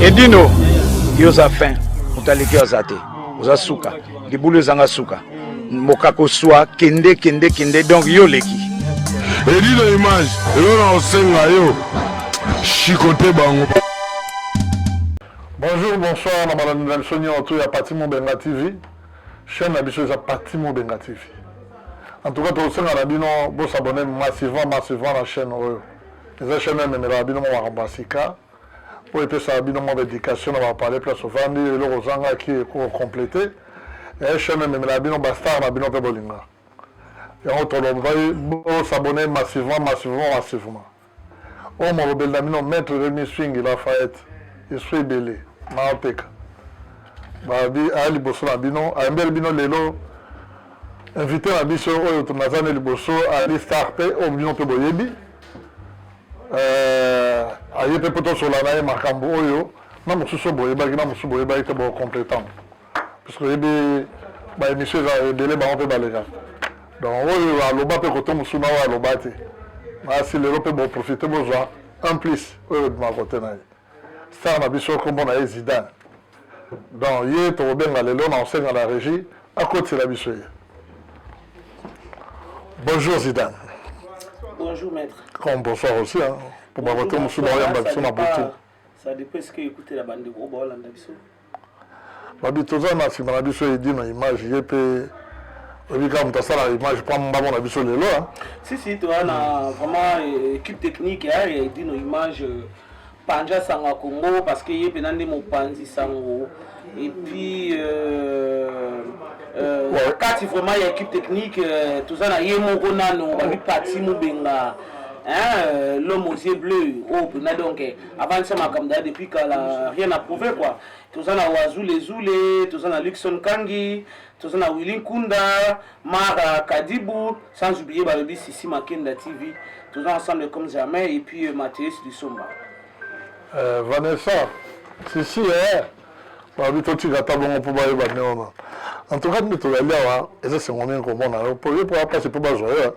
edino yo oza fin moto aleki yo aza te oza suka libulu ezanga suka mokako swa kende kende kende donc yo oleki edino image elo na osenga yo chikote bango bonjour bonsoir na balandi na biso nyonso ya pati mobenga tv chaîne na biso eza parti mobenga tv en tout cas tokosenga na bino bosabone massivement massivement na chaîne oyo eza chaîne oyo ememelaka bino mwa makambo ya sika oyo epesaka bino mwa baéducation na bapale place ovandi eloko ozangaki ekokomplete e chaîne oyo ememelaka bino bastar na bino mpe bolinga yango tolombai bosabone massivement massivement massivement Oyo molobeli na bino maitre Remy Swingi Lafayette esprit ebele mawa peka babi aya liboso na bino ayembeli bino lelo invité na biso oyo naza ne liboso ali star pe oyo bino pe boyebi euh, aye pe po tosola na ye makambo oyo na mosusu boyebaki na mosusu boyebaki te bocompletambre parce que oyebi ba émission eza ebele bango mpe baleka donc oyo aloba mpe kote mosusu na oyo aloba te nasi lelo mpe boprofite bozwa un plus oyo ebima kote na ye star na biso nkombo na ye zidane donc ye tokobenga lelo na osenga na régie akotisela biso ye bonjour zidane bonjour maître comme bonsoir aussi hein, mpo bakote mosusu baoyamba biso na butu ça dépend ce que ekutela bandeko oyo baolanda biso babi toza na sima na biso edi na image ye pe oyebi kaka moto asala image mpo mbango na biso lelo si si toza na vraiment euh, équipe technique ya edi na image euh, panja sanga congo parce que ye mpena nde mopanzi sango et puis euh, euh, ouais. kati vraiment ya équipe technique euh, toza na ye moko nano babi pati mobenga hein, euh, l'homme aux yeux bleus oyo oh, mpena donc avandisa makambo daya depuis kala rien à prouver quoi toza na wazule zule toza na luxon kangi toza na willi nkunda mara kadibu sans oublier balobi sisi makenda tv toza ensemble comme jamais et puis euh, mateus lisomba euh, vanessa sisi eh, balobi totika ata bongo mpo bayeba nde wana en tout cas nde tozali awa eza sengo mingi komona yo mpo ye mpo apasi mpo bazwa yo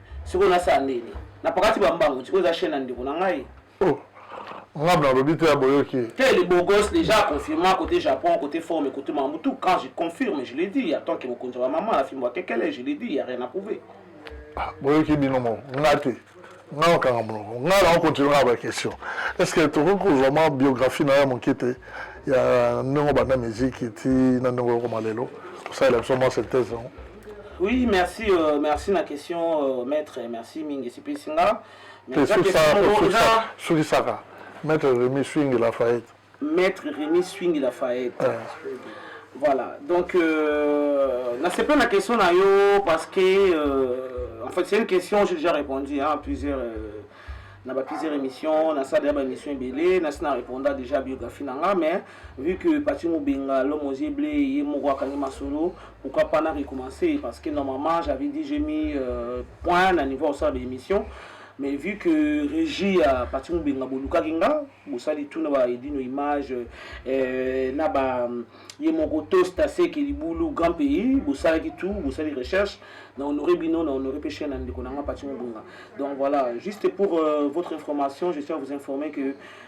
sikoyo nasala ndeni na pakati bambangu sikoyo eza chaine ya ndeko na ngai oh, nga nalobi te ya boyoki te le beau gosse déjà confirma côté japon côté forme côté mambo tout quand je confirme je l'ai dit en tant que mokonzi ya bamama na fimbo ya kekele je l'ai dit ya rien à prouver ah, boyoki bino moko nga te nga nakanga monoko nga na okontinue nga baquestion est ce que tokoki kozwa mwa biographie na yo ya moke te ya ndenge obanda miziki ti na ndenge okoma lelo osalela biso mwa synthèse yango Oui, merci, euh, merci na question, euh, maître, merci mingi esepelisi nga. Mais eza question moko eza sukisaka maître Remy Swing Lafayette. Maître Remy Swing Lafayette. Ah. Voilà, donc euh, nasepeli na question na yo parce que euh, en fait c'est une question j'ai déjà répondu hein, à plusieurs euh, na ba plusieurs émissions, na ça déjà ba émission ebele, na sina répondre déjà biographie na nga mais Vu que Paty Mubenga, l'homme aux yeux bleus, ye moko akangi masolo, pourquoi pas na recommencer parce que normalement j'avais dit j'ai mis euh, point na niveau osala ba émission mais vu que régie ya Paty Mubenga bolukaki nga bosali tout na ba edino image euh, na ba ye moko tosta seke libulu grand pays bosalaki tout bosali recherche na honore bino na honore pe chaîne na ndeko na nga Paty Mubenga donc voilà juste pour euh, votre information je tiens à vous informer que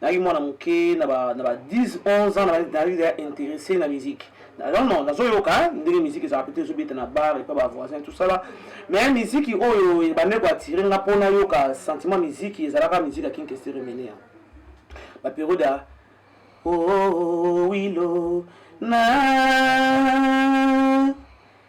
nayaki mwana moke na ba 10 11 ans nazalaki deja interesse na musique non non nazoyoka ndenge musique ezalaka mpe te ezobeta na bar epa bavoisin tosala mais musique oyo ebande koattire nga mpo nayoka sentiment musique ezalaka musique ya kinkestere menea baperiode ya oh, oh, oh, oh, wilo na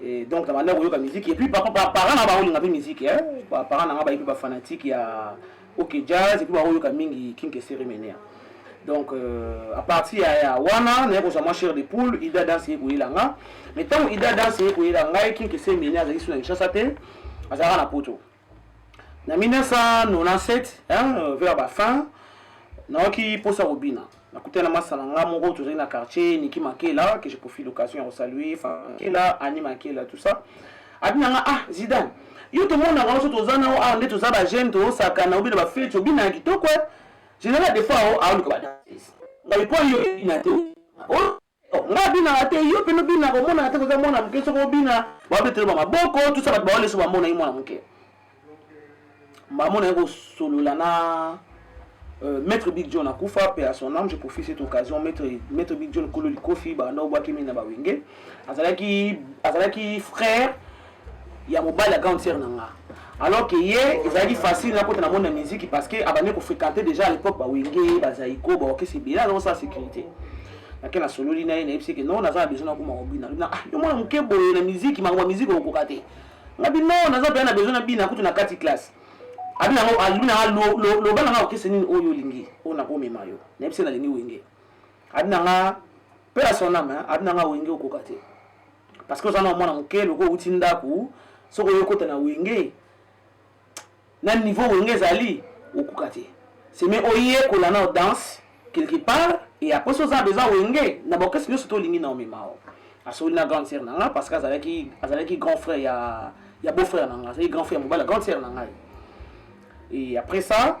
Et donc nabanda koyoka musique et puis papa ba parents na baolinga mpe musique hein ba parents na nga bayi mpe ba fanatique ya ok jazz et puis baoyoka mingi king kesere menea donc euh, à partir ya, ya wana naye kozwa mwa chair de poule ida danse ye koyela nga mais ntango ida danse ye koyela ngai king kesere menea azalaki suna kinshasa te azalaka na poto na 1997 vers ba fin nayoki mposa kobina nakutana na masala nga moko tozali na quartier niki makela que je profite l'occasion ya kosalue makela ani makela tout ça abina nga ah zidane yo tomonaka nyonso toza na awa nde toza bajeune tozosakana obina bafeti obina ya kitoko general defao aoluka badanse ngai mpo yo ebina te Nga abinaka te yo pena obinaka omonaka te koza mwana muke soko obina babetela ba maboko tusa bato baole so bamona ye mwana muke bamona ye kosolola na Euh, maître Big John akufa paix à son âme je profite cette occasion maître maître Big John kolo likofi banda obwaki mini na bawenge azalaki azalaki frère ya mobali ya grande sœur na nga alors que ye ezalaki facile nakota na monde ya musique parce que abandi kofréquente déjà à l'époque bawenge bazaiko baorchestre ebele azakosala sécurité nake nasololi na ye nayebisi ke non naza na besoin nakoma kobina lobina ah yo mwana moke boye na miziki makambo ya miziki okokoka te ngabi non naza mpenza na besoin nabina kutu na kati classe abina yango alobi nanga loba nanga orchestre nini oyo olingi oyo nakomema yo nayebisi nalingi wenge abina nga mpe ya sonama abina nga wenge okoka te parce que oza na mwana moke loko outi ndako soki oyo okota na wenge na niveau wenge ezali okoka te seme oyekola nao danse quelque part e apres so oza besoin wenge na baorchestre nyonso to olingi na omemao asololi na grande sœur na ngai parce que azalaki azalaki grand frère ya ya beau frère na ngai azalaki grand frère ya mobali ya grande sœur na ngai e après ça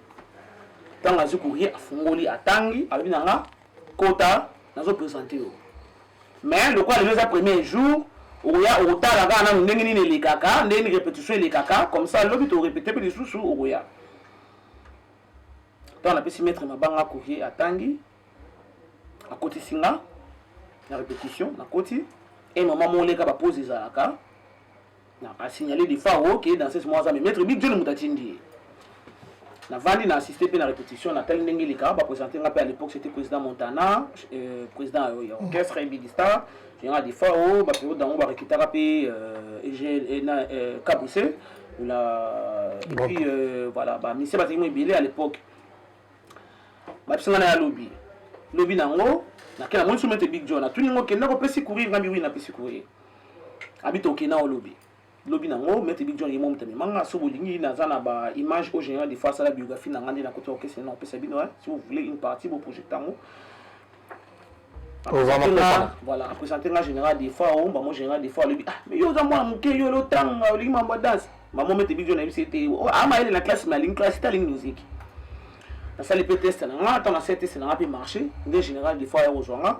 ntango azwi courrier afungoli atangi alobi na nga kota nazo présente yo mais lokola lelo eza premier jour okoya okotala kaka nanu ndenge nini elekaka ndenge nini répétition elekaka comme ça lobi torépéte mpe lisusu okoya ntango napesi maître mabanga courrier atangi akotisi nga na répétition nakoti e mama moleka bapose ezalaka Na a signaler de far haut que danseuse moko aza mais Maître Big John moto atindi ye. Navandi na assister mpe na repetition natali ndenge elekaka ba presenter nga mpe à l'époque c'était président Montana euh, président ya ya orchestre Big Star yanga de far haut ba periode yango ba recrutaka mpe euh, EGL eh, na euh, Kabuse la et puis euh, voilà ba mise bazali mo ebele à l'époque babisa nga na ya lobi lobi na yango nakela monisi Maître Big John atuni ngo kenda kopesi courir ngambi oui napesi courir abi toke na olobi lobi na ngo maître bidjon ye momuta me manga so bolingi naza na ba image au général des fois asala biographie na nga nde na kota okese na opesa bino hein si vous voulez une partie bo projecte yango voilà apresente nga général des fois o mbamo général des fois alobi ah mais yo oza mwana moke yo lotanga olingi mambo ya danse mama maître bidjon nayebisi ete amayele na classe me alingi classe te alingi musique nasali mpe teste na nga ntango na sali teste na nga mpe marché nde général des fois ya kozwa nga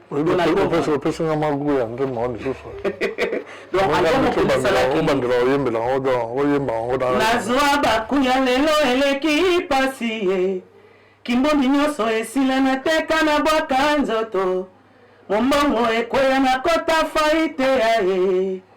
opesi nga magu ya nzembo yango lisusu obandela oyembela yango don oyemba yango nazwa baku ya lelo eleki pasi ye kimbongi nyonso esila na teka na bwaka nzoto mombongo ekweya na kota faite ya ye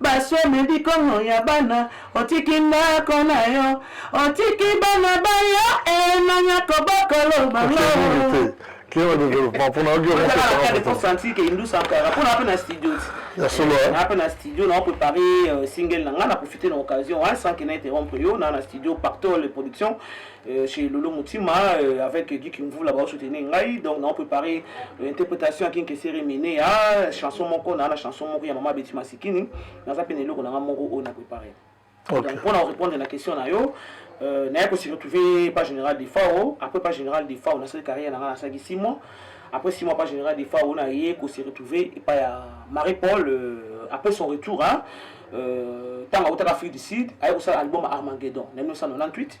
Baswemi bikongo ya bana otiki ndako na yo otiki bana ba yo e nani akobokolo bango Kiewa development mpona ogi okosanti ke indusa kaka mpona ape na studio ti ya solo ape na studio na oprépare euh, single na ngai na profite na occasion wana sans ke na interrompre yo na na studio pactole production Euh, chez Lolo Moutima euh, avec Guy Kimvula ba soutenir ngai donc na préparé euh, interprétation ya Kinke Seremine ya chanson moko na la chanson moko ya Mama Betty Masikini naza pe na eloko na nga moko oyo na préparé okay. donc mpona korépondre na question na yo euh, naye kosi retrouve pas général de fao après pas général de fao nasali carrière na nga nasalaki six mois après six mois pas général de fao naye kosi retrouve epai ya marie paul euh, après son retour hein, euh, ntango autaka afrique du sud aye kosala album armageddon na 1998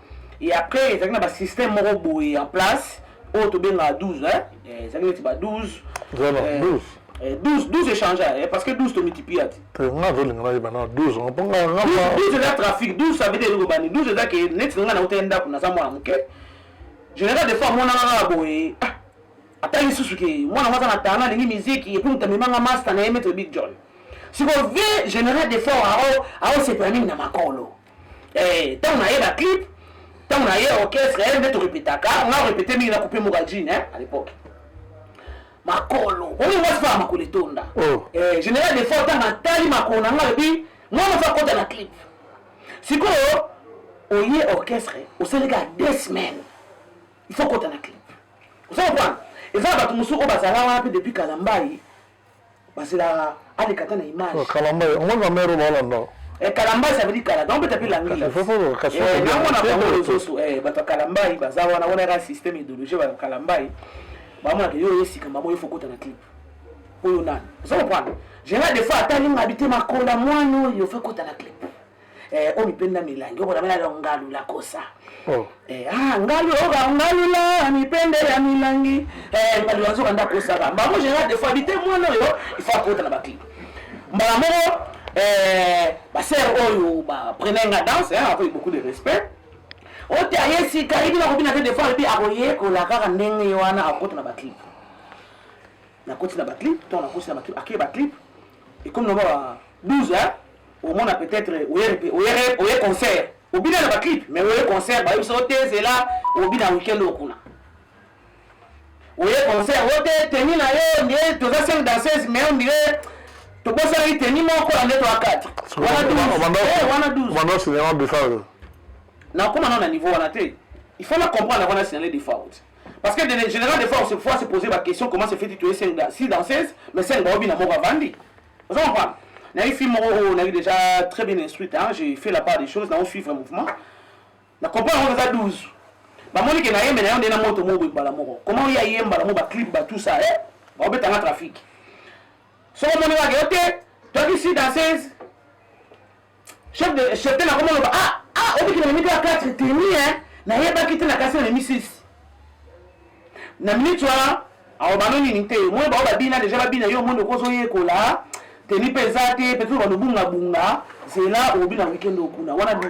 et après ezalaki na ba système moko boye en place oyo tobengaka 12 hein? Eh, ezalaki neti ba 12 12 12 12 échange eh, parce que 12 tomultiplia te nga azolinga nayeba na 12 mpo nga 12 eza trafic 12 ça veut dire eloko bani 12 eza ke neti nga nauta ye ndako naza mwana moke général des fois amonaka kaka boye ah, ata lisusu ke mwana ngo aza na tana alingi miziki epuis moto amemanga masta na ye maître big john sikoyo vie général des fois aosepela mingi na makolo eh, ntango na ye baclip ntango na ye orchestre ye nde torepetaka nga orepete mingi na coupe moka jine eh, à l'époque makolo oyo mwasi faa makolo etonda oh. eh, général de fort ntango atali makolo na nga alobi mwana fa kota na clip sikoyo oye orchestre osali kaka deux semaines il faut kota na clip oza kopana eza na bato mosusu oyo bazala wana mpe depuis kala mbai bazela aleka ata na image oh, kalamba ye omoni ba mère ba landa eh kalamba ça veut dire kala donc peut-être la ngila il faut faut le cacher eh na mona ba ngolo soso eh bato kalamba yi baza wana wana ka système idéologie ba kalamba yi ba mona ke yo yesi kamba mo il faut kota na clip oyo nani ozo comprendre général des fois ata linga bite makola mwana oyo faut kota na clip eh, o mipenda milangi okola bana la ngalu la kosa oh. eh, ah, ngalu oka oh, ngalu la mipende ya milangi eh, ngalu la nzoka nda kosaka bango général des fois bite mwana oyo il faut akota na baklipe mbala moko eh, basere oyo oh, baprenai oh, nga danse hein, avec beaucoup de respect ote aye sika yebi nakobina te des fois ebi akoyekola kaka ndenge ye wana akota na baclipe nakoti na baclipe to nakoti na baclipe akei baclipe ekomi na ba 12 hein omona peut-être oye concert obina na baclip mais oye concert bayebisa ote zela obina weekend okuna oye concert ote teni na yo nde toza 5 danseuse mais ondire tobosanaki teni moko na nde toa 4 wana 12 nakoma nao na niveau wana te il faut na comprendre wana signale de faute parce que de général de fois on se fois se poser ba question comment se fait tu es 5 si danseuse mais 5 baobi na moko avandi Oza comprendre? Nayebi fille moko oyo nayebi déjà très bien instruite, hein, j'ai fait la part des choses, nao suivre mouvement. Na comprendre yango naza 12. Bamoni ke nayembe na yo nde na moto moko boye mbala moko. Comment oye ayemba na mo ba clip ba tout ça, eh? Baobeta nga trafic. Soko omoni nga ke yo te, toi qui suis danseuse, Chef de chef de la comment on va ah ah on dit qu'il a mis 4 tenue hein na yeba kiti na kasi na mis 6 na minute wana awa bano nini te omoni bango babina deja babina yo omoni okoki ozoyekola teni mpe eza te peut-être banobungabunga zela obina weekend okuna wana 12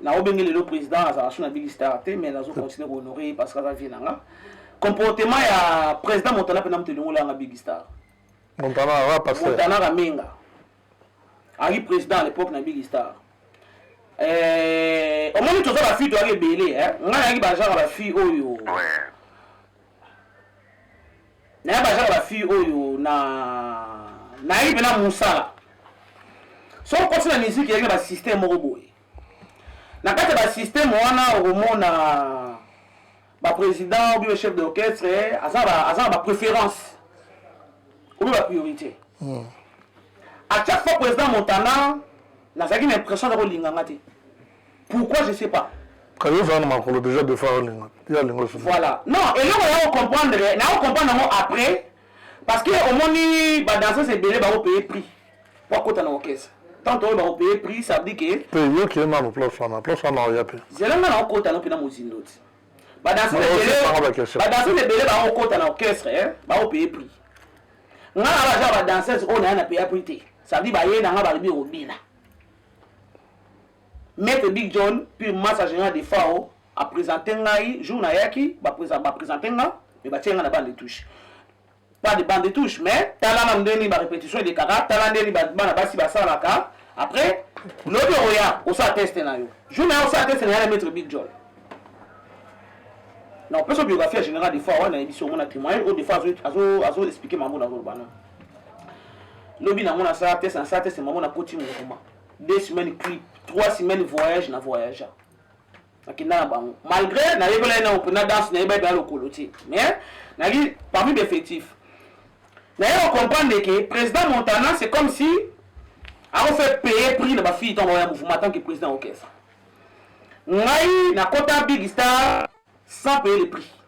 Na obenge lelo président azala sous na bili star te mais nazo continuer ko honorer ye parce que aza vie na nga. Comportement ya président Montana pena moto elongola nga big star. Montana awa passer. Montana Ramenga. Ayi président à l'époque na big star. Euh, omoni toza ba fille toyaki ebele eh? nga nayaki ba genre ba fille oyo ouais. naye baza na bafille oyo na nayebi mpena mosala soki okoti na miziki eyaki na basysteme moko boye na kati ya basysteme wana okomona baprésident obi bachef d'orchestre aza na bapréférence obi bapriorité hmm. à chaque fois président montana nazalaki na impression aza kolinga nga te pourquoi je sais pas kayo ozala na makolo déjà de fois olinga ya lingo voilà non eloko ya ocomprendre na ocomprendre yango après parce que omoni badanseuse ebele baopeye prix bakota na orchestre tanto oyo bakopeye prix ça veut dire que pe yo kiye nano place wana place wana oya pe zela nga naokota no mpe na mozindo ti badanse ebele baokota na orchestre baopeye prix nga na baza badanseuse oyo naya na peya prix te ça veut dire baye na nga balobi obina maître big john pure massa général de fao apresente ngai jour nayaki bapresente nga me batie nga na bande touche pas de bande de touche mais tala nanu ndenge nini ba repetition elekaka tala ndenge nini bana basi basalaka après lobi okoya osala teste na yo jour na yo osala teste na yo na maître big jol na opesa biographie ya général defois wana nayebi si omona témoignage oyo defois azo expliquer mambo na azoloba na lobi nango nasala teste nasala teste mambo nakoti mouvement deux semaines clip trois semaines voyage na voyagea nakenda na bango malgré nayekolaki na ope na danse nayebaki baya lokolo te mais nayaki parmi d'effectif naye kocomprendre ke président montana c'est comme si akofe paye prix na bafille ntango baoya mouvement tant que président orchestre ngai nakota big star sans payer le prix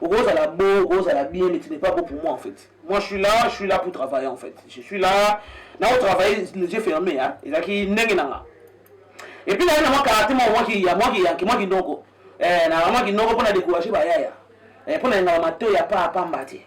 okozala bo okozala bien mais tu n'es pas beau pour moi en fait moi je suis là je suis là pour travailler en fait je suis là nao travailler les yeux fermés hein ezalaki ndenge na nga et puis naye na mwa karate mwa mwa ki ya mwa ki yanki mwa kinoko eh na mwa kinoko mpo na décourager bayaya eh mpo na yengala matoi ya pa pamba te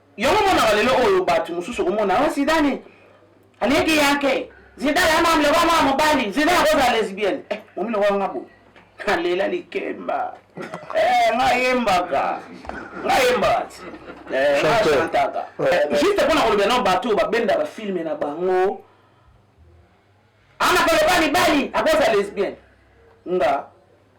Yango omonaka lelo oyo bato mosusu okomona o oh, Zidane aleki yake Zidane ama mloko mwa mobali Zidane akozala lesbienne eh, momi lokola nga boye alela likemba eh, nga yembaka nga yembaka ti eh, nga chantaka juste mpo na kolobela na bato oyo babenda bafilme na bango Ana koloba mibali akoza lesbienne nga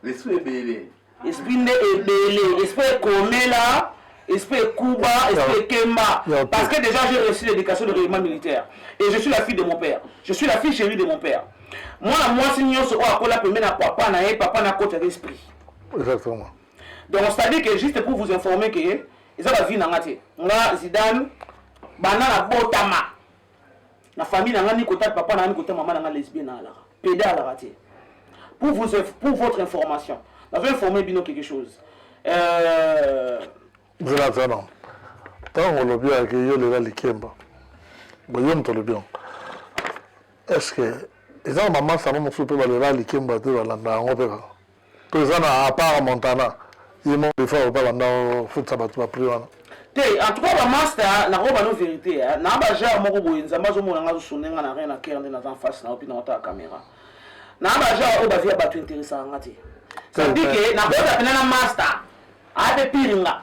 l'esprit ebele esprit nde ebele esprit ekomela esprit ekuba esprit ekemba parce que déjà j'ai reçu l'éducation de règlement militaire et je suis la fille de mon père je suis la fille chérie de mon père mwana mwasi nyonso oyo akola pembe na papa na ye papa na kotaka esprit exactement donc c'est à dire que juste pour vous informer que eza bavie na nga te nga zidane banda na botama na famille na nga ni kota papa na nga ni kota mama na nga lesbienne na alaka pede alaka te pour vous pour votre information nazo informer bino quelque chose euh... zela zana ntango olobi yake yo lela likemba boye moto olobi yango est ce que eza na bamasa yango mosusu mpe balela likemba te balanda yango mpe kaka To eza na apart Montana. Ye mo de fois opa banda futisa bato ba prix wana. Te en tout cas ba masta nako bano verite hein na ba genre moko boye nzambe azo mona nga azo sonne nga na rien na cœur nde naza en face na yo puis na otala camera na ba genre oyo ba vie ya batu interessaka nga te ça veut dire que na kota pena na masta ape pire nga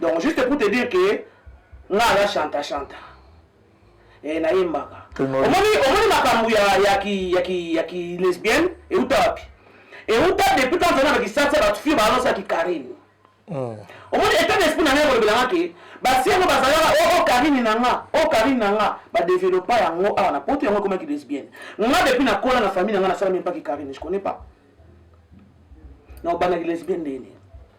donc juste pour te dire que nga aza chanta chanta eh, nayembaka omoni makambo ya kilesbienne euta wapi euta depuis quand ozana na kisasi ya batu fille baanonsa kikarine hmm. omoni etat d'esprit na ngai kolobelanga ke basi yango bazalaka o oh, oh, karine na nga o oh, karine na nga badevelopa yango awa na poto yango ekomaki lesbienne nga depuis nakola na famille na nga nasalami mpaki karine je connais pas na obandaki lesbienne ndeni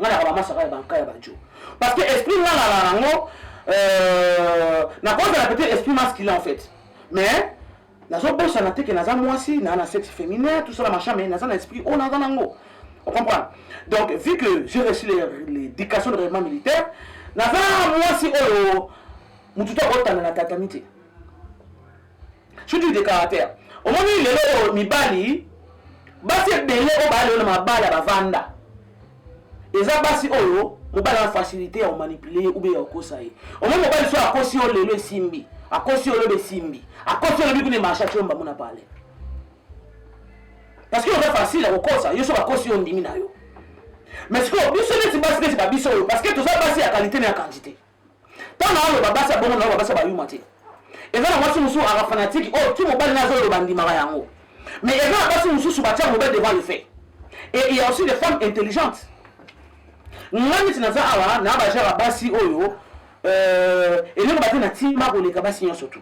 nga naka ba masaka ya banka ya bajo parce que esprit nga na nango euh, nakozala peut-être esprit masculin en fait mais nazobosana te ke naza mwasi naa na sexe féminin tout ça na machin mais naza na esprit oyo naza nango on comprend donc vu que j'ai reçu l'éducation de règlement militaire naza mwasi oyo motu to akotanda na tatami te Chute de caractère. Omoni lelo oyo mibali basi ebele oyo baya lelo na mabala bavanda eza basi oyo mobali wana facilité ya komanipule ye ube ya kokosa ye omoni mobali so akosi yo lelo esimbi akosi yo lobi esimbi akosi yo lobi kuna emarche atyo mbango na pale parce que oza facile ya kokosa yo so bakosi yo ondimi na yo mais sikoyo biso neti basi neti babiso oyo parce que toza basi ya qualité na ya quantité ntango aloba basi ya bongo naoba basi ya bayuma te eza na mwasi mosusu aka fanatike oyo oh, ti mobali na azoloba andimaka yango mais eza na basi mosusu batya mobali devant le fait et il y a aussi des femmes intelligentes nga neti naza awa na bajara basi oyo euh, eloko bate na tima koleka basi nyonso tu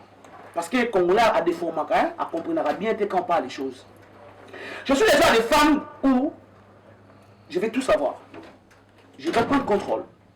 parce que congolais adeformaka hein, acomprenaka bien te quand on parle les choses je suis déjà des femmes où je vais tout savoir je vais prendre contrôle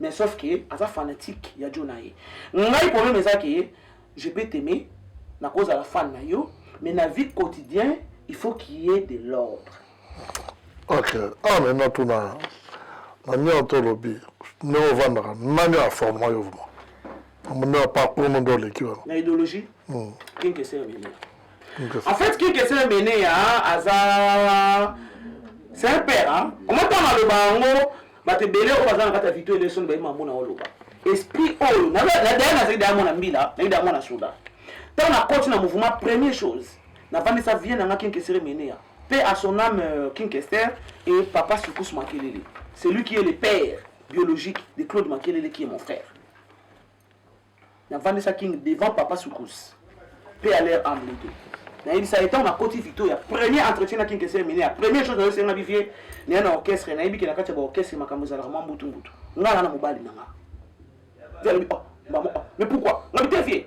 mais sauf que aza fanatique ya jo na ye ngai problème eza ke je peux t'aimer nakozala fan na yo mais na vie quotidien il faut qu'il y ait de l'ordre ok ah mais natuna na nio to lobi ndenge ovandaka nani aforma yo vraimen amona parcours no nde oleki wana na idéologie hmm. kinkesere meneya en fait kinkesere meneya aza c'est un père omotanga loba yango bato ebele oyo baza na kati ya vito elesoni bayima mona oloba esprit oyo nadaya nazali daya mwana mbila nayi daya mwana soda ntango nakoti na mouvement première chose navandisa vie nanga kinkesere meneya pe à son âme euh, kinkester et papa sukus makelele celui qui est le père biologique de claude makelele qui est mon frère navandisa king devant papa soukous pe à leur âme lede nayebisa ye ntango nakoti victoria premier entretien na king esere mineya première chose nayosenga bivie naya na orchestre nayebi ke na kati ya baorchestre makambo ezalaka mwa mbutumbutu ngai na na mobali na nga alobi oh, oh, mais pourquoi ngabi te vie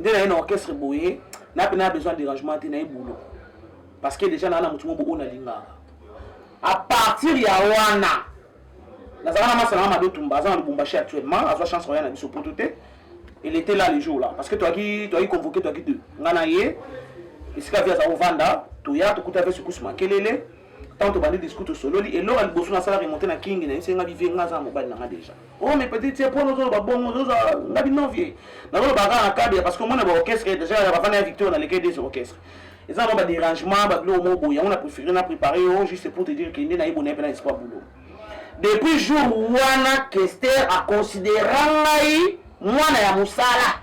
nde naye na orchestre boye na pena besoin ya dérangement te naye boulot parce que déjà naa na motu mobo oyo nalingaka à partir ya wana nazalaka na masana na mado tumba aza na lubumbashi actuellement azwa chance oya na biso poto te elle était là le jour là parce que toyaki toyaki convoqué toyaki deux nga na ye esika vi aza kovanda toya tokuta ve sukusu makelele ntango tobandi discours tosololi eloko ya liboso nasalaka emonte na kingi na ye senga bivie nga aza na mobali na nga déjà Oh mais petit tie pona ozoloba bongo ozoza nga bino vie nazoloba kaka na cadre parce que omona ba orchestre déjà ya bafana ya victoire na leke des orchestres eza nango badérangement babiloko moko boye yango na préféré na préparé yo oh, juste pour te dire kende nayebi onayebi na espoir boulot depuis jour wana kester aconsidera ngai mwana ya mosala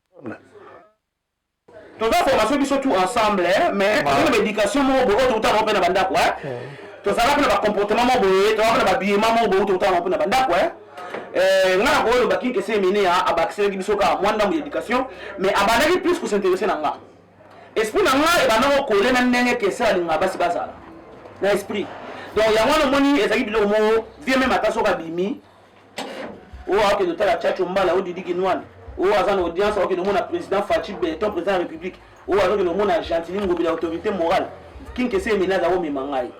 toza formation biso tout ensemble hein, mais ah. toza na baéducation moko boye oyo toutaka yango mpe na bandako hein. hmm. tozalaka mpe na bacomportement moko boye tozalaka na babillema moko boye toutaka yango mpe na bandako hein. eh, nga nakoki oloba kinkese emene ya abakiselaki biso kaka mwa ndambo ya éducation mais abandaki plus kosinteresse na nga esprit na nga ebandaki kokole na ndenge kese alingaka basi bazala na esprit donc yango wana omoni ezalaki biloko moko vie meme ata soki abimi oyo akende otala chacho mbala oyo didi kinwani oyo aza na audience akokende omona président faci beton président ya république oyo azokende omona gentili ngobi na autorité morale kinkese emeli aza komema ngai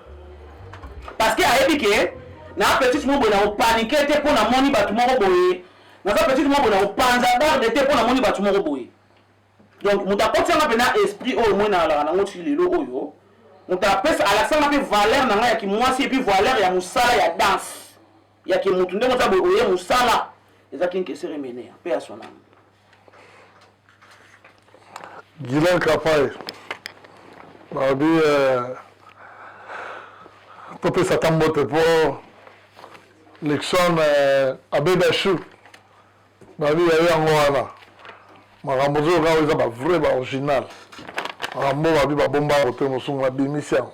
parce que ayebi ke na petite moko boye na kopanike te mpo namoni bato moko boye naza petite moko boye na kopanza garde te mpo namoni bato moko boye donc moto akotisanga mpe na esprit oyo moi nalaka nango ti lelo oyo moto apesa alakisanga mpe valeur na ngai ya kimwasi epuis valeur ya mosala ya danse ya ke mutu ndenge oza boye oye musala eza kin kesere menea pe ya son ame Gilan Kapaye balobi euh, topesa ata mbote mpo Luxon euh, abeda chou balobi yayo yango wana makambo ozoyoka oyo eza bavrai baoriginal makambo oyo balobi babomba kote mosungu na bimisi yango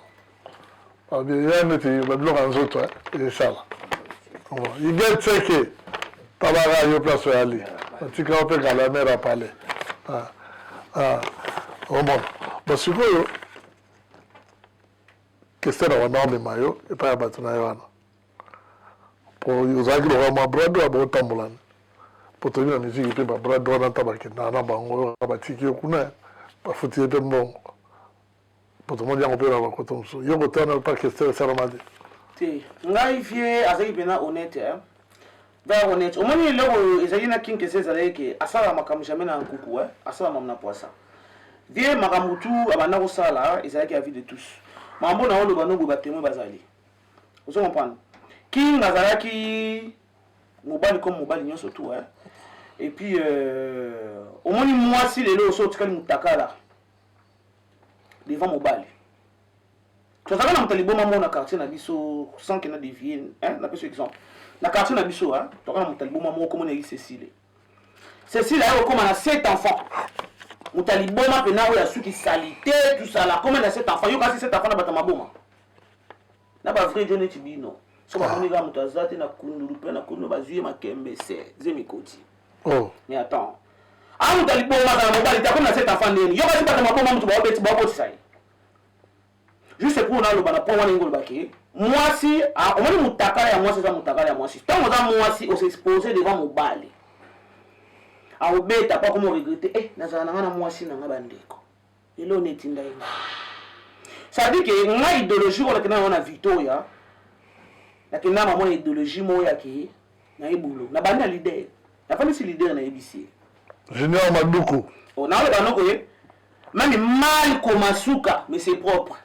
ya neti babiloko ya nzoto esala iget seke tabaka yo place oyali batika yo mpe kala mere apale omona basikoyo kester na wana omema yo epai ya bato na ye wana po ozalaki lokola mwa brado ya botambolana po toyebi na miziki mpe babrado wana ata bakendaka na bango batiki yo kuna bafuti ye mpe mbongo mpo tomoni yango mpe na bakoto mosusu yo koto wana pa kester esalama te te ngai vie azalaki mpena honnête eh? very honnête omoni eloko oyo ezalaki na king kester ezalaki ke asalaka makambo jamais na nkuku eh? asalaka mamu na poisa vie makambo tu abanda kosala ezalaki avis de tous makambo na oloba noboye batemwe bazali ozo comprendre king azalaki mobali comme mobali nyonso tu eh? et puis euh, omoni mwasi lelo oso otikali motakala devant mobali tozalaka na moto ya liboma moko na quartier na biso sans que na devie na peso exemple na quartier na biso tozalaka na moto ya liboma moko komona ye cecile cecile aye kokoma na sept enfants moto ya liboma mpena oyo asuki salite tusala koma na sept enfants yo kasi sept enfants na bato ya maboma na ba vrai jo neti bino so bamoni kaka moto aza te na kundulu mpe na kundulu bazwi ye makembe se zemi koti oh. mais attends a moto alibomaka na mobali te akomi na set enfant ndeni yo kasi bato maboma moto baobeti baobotisa ye juste mpo naloba na point wana ingo olobaki mwasi ah, omoni motakala ya mwasi eza motakala ya mwasi ntango oza mwasi osexpose devant mobali aobeta mpo akomi oregrete e eh, nazala na ngai na mwasi na ngai bandeko Elona etinda ye nga. Ça veut dire que nga ideologie oyo nakenda nango na Victoria, nakenda na maman na ideologie moko ya ke naye boulot. Nabandi na leader. Nafandisi leader nayebisi ye. Junior Maduku. Oh, naoloba no ke meme mal koma suka mais c'est propre.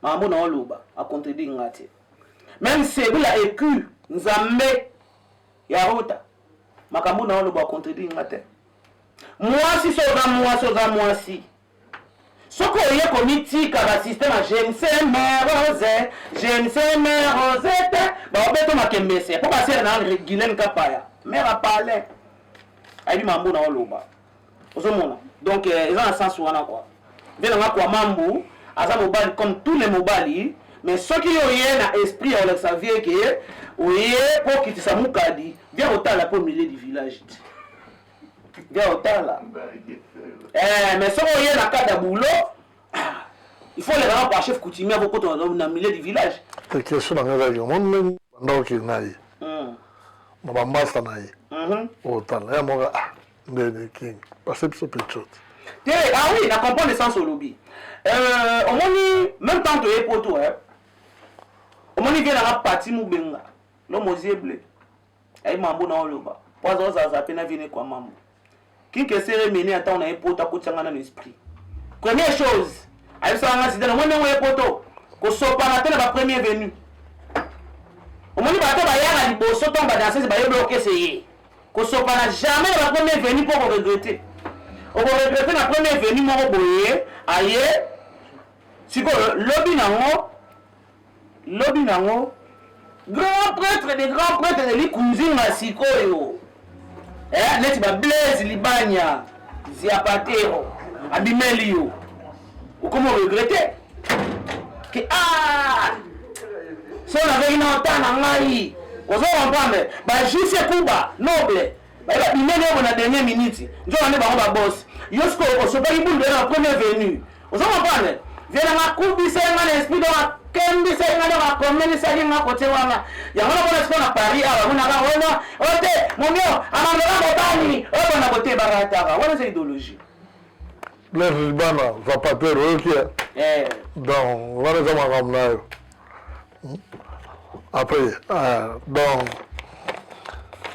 Makambo naoloba a contredire nga te. Meme Sebula ecu Nzambe Ya Ruta, makambo na oloba contredire nga te. Mwasi so oza mwasi oza mwasi. Soki oye komitika ba système ya je ne sais mais rose, je ne sais mais rose te, baobeto makembese. Po basere na Guylaine Kapaya, mère a parler. Ayebi mambo na oloba. ozomona donc eh, eza na sens wana kua mpe nanga kua mambu aza mobali comme tous les mobali mais soki yo oye na esprit ya kolakisa vie ke oye mpo okitisa mukadi bia kotala mpo milieu du village te bia kotala eh, mais soki oye na kati ya bulo ah, il faut oleka na kwa chef coutumier akokota na milieu du village question na ngai ezalaki omoni ndenge banda okende na ye na bambasa na ye otala ya moka Ndene King, pase biso pe chot. Te, ah oui, na comprendre sens olobi. Euh, omoni même temps toye poto hein. Omoni vie nanga parti mubenga. Lo mozie bleu. Ayi mambo na oloba. Po azo zaza pe na vie ne kwa mambo. King kesere mene ata ona ye poto akotya nga na l'esprit. Première chose, ayebisaka nga zidane omoni ndenge oye poto kosopana te na ba premier venu omoni bato bayaka liboso ntango badansese bayebi okese ye Kosopana jamais na ba premier venu mpo oko regrette. Oko regrette na premier venu moko boye aye sikoyo lobi nango lobi nango grand prêtre de grand prêtre de likunzinga sikoyo eh, neti ba blaise libanya ziapatero abimeli yo okomo regrete ke a ah! so nazalaki na ota na ngai ozo comprendre bajuse kuba noble bayeba binene yango na dernier minute nzoka nde bango babosi yo sikoyo osopaki bulu na premier venu ozo comprendre vena nga kubisa nga na esprit dona kembisa nga na bakomelisaki nga kote wana yango namona sikoyo na paris awa monaka wana ote momio amandaka mobali oyo bona kotebarataka wana eza idologie Blaise libanda zapatero oyoki ye eh. donc wana eza makambo na yo hmm? après eh, donc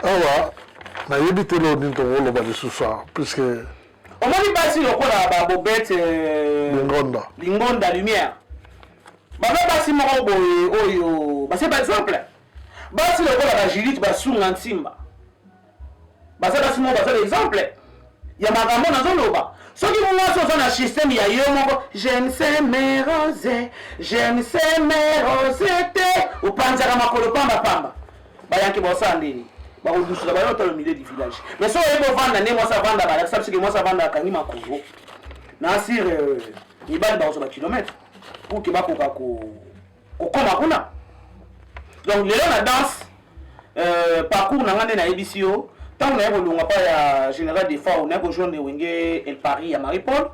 awa nayebi te loo nini tokoloba lisusu awa puisque omoni basi lokola babobete eh, lingonda lingonda lumière baza basi moko boye oyo base par exemple basi lokola bajulite basunga nsimba baza basi moko baza exemple ya makambo nazoloba soki mwasi oza na systeme ya yo moko jemse merose jemse merose te opanzaka makolo pambapamba bayanki bosala ndeni bakodususa bayo talo milieu du village mais soki oyebi ovanda nde mwasi avanda balakisa biso ke mwasi avanda akangi makolo na asire euh, mibali bakozwa bakilometre pour ke bakoka ko kokoma kuna donc lelo na danse euh, parcours na nga nde nayebisi yo ntango naye kolonga mpa ya général defao naye kojoindre wenge el paris ya marie paul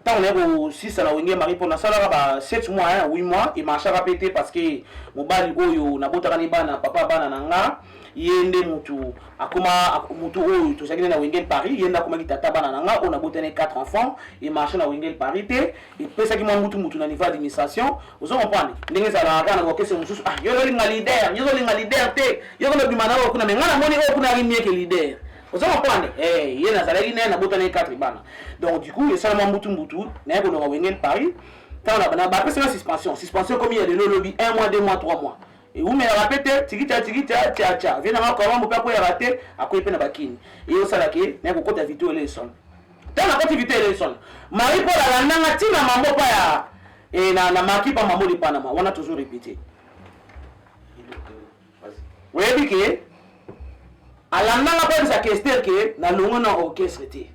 ntango naye kosisa na wenge marie paul nasalaka ba 7 mois ya 8 mois emarchaka mpe te parce que mobali oyo nabotaka ne bana papa bana na nga ye nde motu akoma motu oyo tozalaki nde na wengel paris ye nde akomaki tata bana na nga oyo nabotani 4 enfants emarche na wengel paris te epesaki mwa mutu mutu na niveau ya administration ozo comprendre ndenge ezalaka kaka na bokese mosusu ah yo ozolinga leader yo ozolinga leader te yo kolobima na oyo kuna me ngai namoni oyo kuna ari mieke leader ozo comprendre eh ye nazalaki naye nabotana ye quatre bana donc du coup esala mwa mbutu mbutu naye kolonga wenge paris ntango na bapesaka suspension suspension ekomi ya lelo lobi un mois deux mois trois mois ewumelaka mpe te tikita tikita tiatia vie nanga kawambo mpe akweyaka te akwei mpe na bakini eyosalaka ye naye kokota video elesona Ntango nakoti vite Elenson, Marie Paul alanda nga ti na mambo pa ya eh, na, na maki pa mambo de Panama wana toujours répété. Oyebi ke alanda nga koyebisa Kester ke nalongwe na orchestre te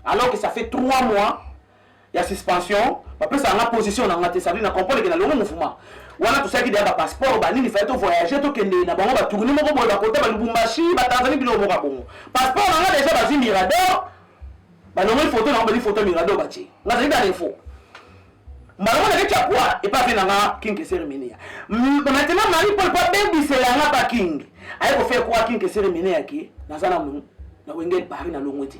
alors que ça fait trois mois ya suspension bapesaka nga position na nga te sadri na comprendre ke nalongo mouvement wana tosalaki deya bapasseport banini fai tovoyage tokende na bango batourni moko boye bakota balubumbashi batanzani biloko moko ya bongo Passeport na nga deja bazwi Mirador, balongoli photo na nga bazwi photo ya Mirador batie. Nazali na info. Mbala moko nakei Chapua epai afe na nga King Kesere Minia. Maintenant Marie Paul mpo abebisela nga ba King. Aye ko faire croire King Kesere Minia ke naza na na wenge Paris na longwe te.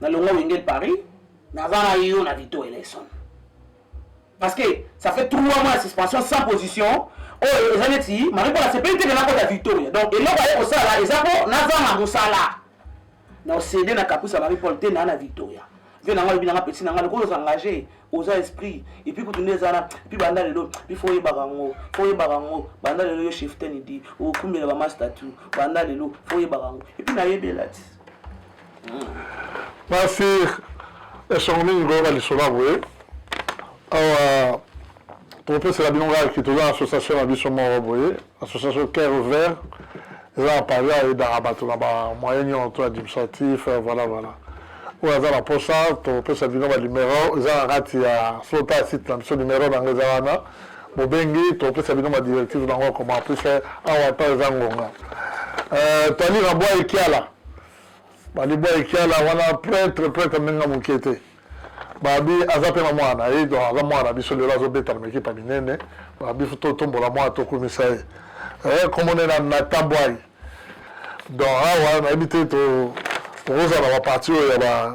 Na longwa wenge Paris, na za na yo na Vito Eleison. Parce que ça fait 3 mois ya suspension sans position. Oyo oh, eza neti Marie Paul asepeli te na kota Victoria. Donc eloko aye kosala eza ko na za na mosala. Na osede na kapusa Marie Paul te na na Victoria. vie nanga alobi nanga peti nanga lokola oza engage oza esprit epuis kutu nde eza na epuis banda lelo bi fo oyebaka yango fo oyebaka yango banda lelo yo cheftaine di okumbela bama statut banda lelo fo oyebaka yango epuis nayebela ti Merci. Esongo mingi koyoka lisolo ya boye awa tokopesela bino ngaki toza association na biso moko boye association cœur vert eza na paris ayedaka bato na bamoyen nyonso to administratif euh, voilà voilà oyo aza na posa topesa bino banimero eza na kati ya flota ya site na biso nimero na yango eza wana bobengi topesa bino badirective na yango koma plus awa ata eza ngonga euh, toalira bwa ekiala Ba libwa ekiala wana pretre pretre meme na mukie te. Babi aza pe na mwana na ye donc aza mwana na biso lelo azo beta na mekipa minene. Babi faut to tombola mwana to kumisa ye. Eh kombo na na Nathan Boy. Donc awa na yebi te to tokozala na ba parti oyo ya ba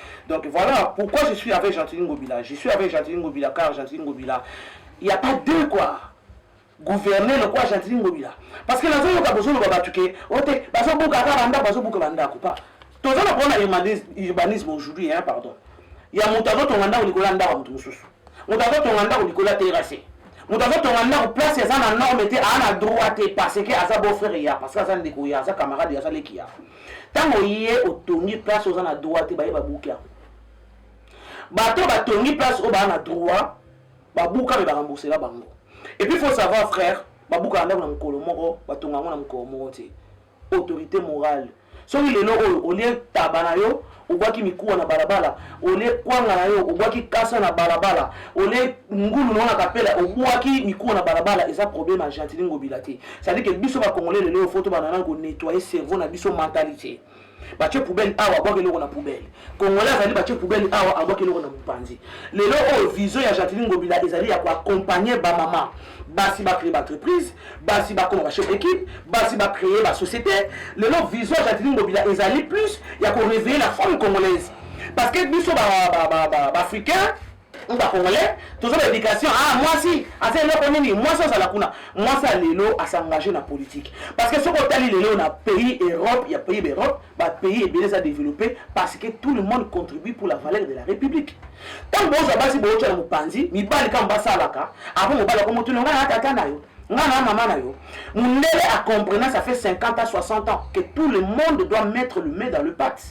Donc voilà pourquoi je suis avec Gentini Ngobila. Je suis avec Gentini Ngobila car Gentini Ngobila, il n'y a pas deux quoi. Gouverner le quoi Gentini Ngobila. Parce que nazo yoka bozo loba batu ke ote bazo buka ka banda bazo buka banda ko pas. Tozo na pona urbanisme aujourd'hui hein pardon. Ya moto azo tonga ndako likolo ya ndako ya moto mosusu. Moto azo tonga ndako likolo ya terrasse. Moto azo tonga ndako place eza na norme te, a na droit te parce que aza beau frère ya, parce que aza ndeko ya, aza camarade ya, aza leki ya. Tango ye otongi place oza na droit te, baye babuki yango. Bato batongi place oyo baa na droit, babuka me ba rembourser bango. Et puis faut savoir frère, babuka ndako na mokolo moko, batonga yango na mokolo moko te. autorite morale soki lelo oyo olie taba na yo obwaki mikuwa na balabala olie kwanga na yo obwaki kasa na balabala olie ngulu nao na kapela obwaki mikuwa na balabala eza problème ya gentili ngobila te cestadire ke biso bacongolais lelo oyo fo tobanda nani konettoye cerveau na biso mentalité batie poubele awa abwaki eloko na poubele congolais azali batie poubele awa abwaki eloko na mopanzi lelo oyo vision ya gentili ngobila ezali ya koaccompagne bamama basi bacreye baentreprise basi bakoma bachef d'équipe basi bacreye basociété lelo vision ya jacqueline bobila ezali plus ya koreveille la femme congolaise parce que biso baafricain ou bacongolais toza na éducation ah mwasi aza eloko nini mwasi azala kuna mwasi ya lelo asengage na politique parce que soki otali lelo na pays europe ya pays baeurope ba pays ebele eza developpe parce que tout le monde contribue pour la valeur de la république ntango bozwa basi bootya na mopanzi mibali kama basalaka apo mobali akomotuna ngai na tata na yo ngai na mama na yo mundele acomprena ça fait 50 à 60 ans que tout le monde doit mettre le main dans le pate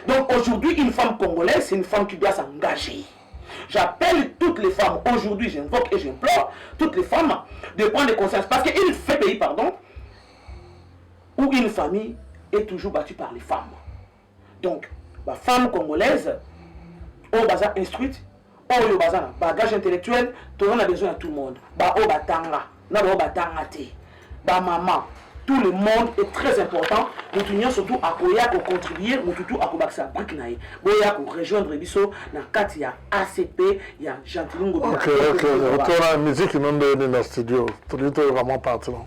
donc aujourd'hui une femme congolaise c'est une femme qui doit s'engager J'appelle toutes les femmes, aujourd'hui j'invoque et j'implore toutes les femmes de prendre conscience. Parce qu'une fait pays, pardon, ou une famille est toujours battue par les femmes. Donc, ba femme congolaise, oyo baza instruite, oyo baza na bagage intellectuel, toza na besoin ya tout le monde. Ba oyo batanga, na ba oyo batanga te. Ba maman, tout le monde est très important. Mutu nyonso tu akoya ko contribuer, mutu tu akobakisa brique na ye. Boya ko rejoindre biso na kati ya ACP ya Gentilungu. Ok, ok, ok. Otola musique nonde ni na studio. Tolito vraiment parti non.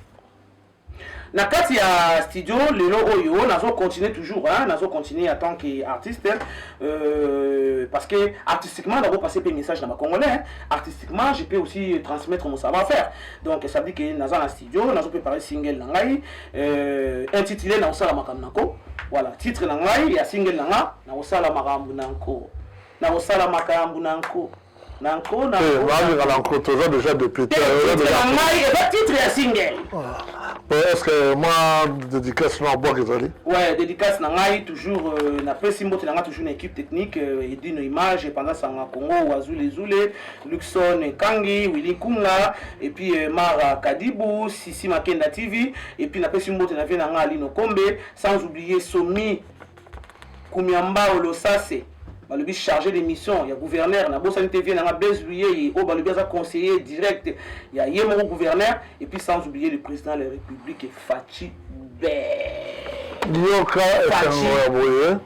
Na kati ya studio lelo oyo nazo continuer toujours hein, nazo continuer en tant que artiste euh, parce que artistiquement nako passer pe message na ba congolais hein. artistiquement je peux aussi transmettre mon savoir-faire donc ça dit que naza na studio nazo préparer single na ngai euh, intitulé na osala makambo nako voilà titre na ngai ya single na nga na osala makambo nako na osala makambo nako na nko na eh, balingaka na nko toza déjà député na ngai eza titre ya single ah. est ce que mwa dédicace na bwaka ezali ouais dédicace na ngai toujours euh, napesi mbote na ngai toujours na équipe technique euh, edino image epanda sanga congo wazulezule luxon kangi willi kunga et puis euh, mara kadibu sisi makenda tv et puis napesi mbote na vie na ngai alino kombe sans oublier somi Kumia Mbao Losase balobi charge de mission ya gouverneur na bosani te vie nanga Blaise Luyeye oyo balobi aza conseiller direct ya ye moko gouverneur et puis sans oublier le président de la république Fatshi Bee. Yoka esango ya boye.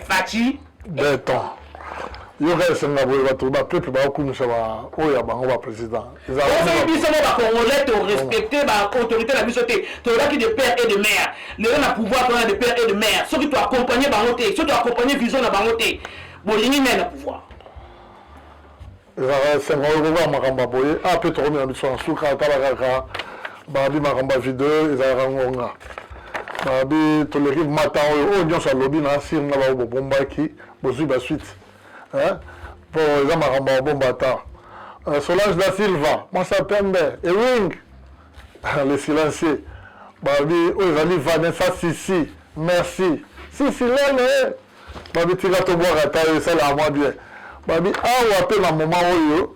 Fatshi beton yoka esenga boye bato bapeuple baokumisa oyo ya bango baprésident ezali biso mo bacongolais torespecte baautorité na biso te tolobaki de père et de mare lelo na pouvoir tona de père et de mare soki toaccompagne bango te soki toaccompagne vision na bango te bolingi ngai na pouvoir Ezalaka esengo oyo kokoka makambo ya boye. Ah, pe tokomi na biso na suka, tala kaka babi makambo ya video ezalaka ngonga. Babi toleki mata oyo oyo nyonso alobi na asir na bao bobombaki bozwi ba suite. Eh? Po eza makambo ya bomba ata. Euh, Solange da Silva, Mwasa Pembe, Ewing, le silencieux. Babi oyo ezali Vanessa Sisi. Merci. Sisi lele. babi tika tobwaka ta yo esalaka mwa bien babi awa mpe na moma oyo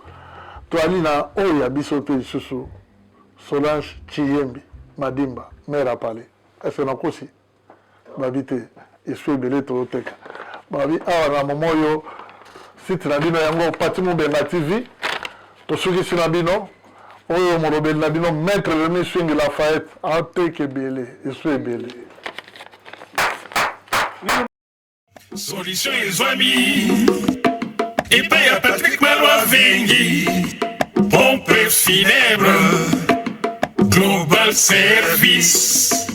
toali na oyo ya biso mpe lisusu solange chiyembi madimba mare apale ese nakosi babi te esu ebele tooteka babi awa na moma oyo site na bino yango pati mobenga tv tosukisi na bino Oyo molobeli na bino Maitre Remy Swingi Lafayette ateka ebele, esu ebele. Solution ezwami epai ya Patrick Malwa Vengi, pompe funèbre, global service.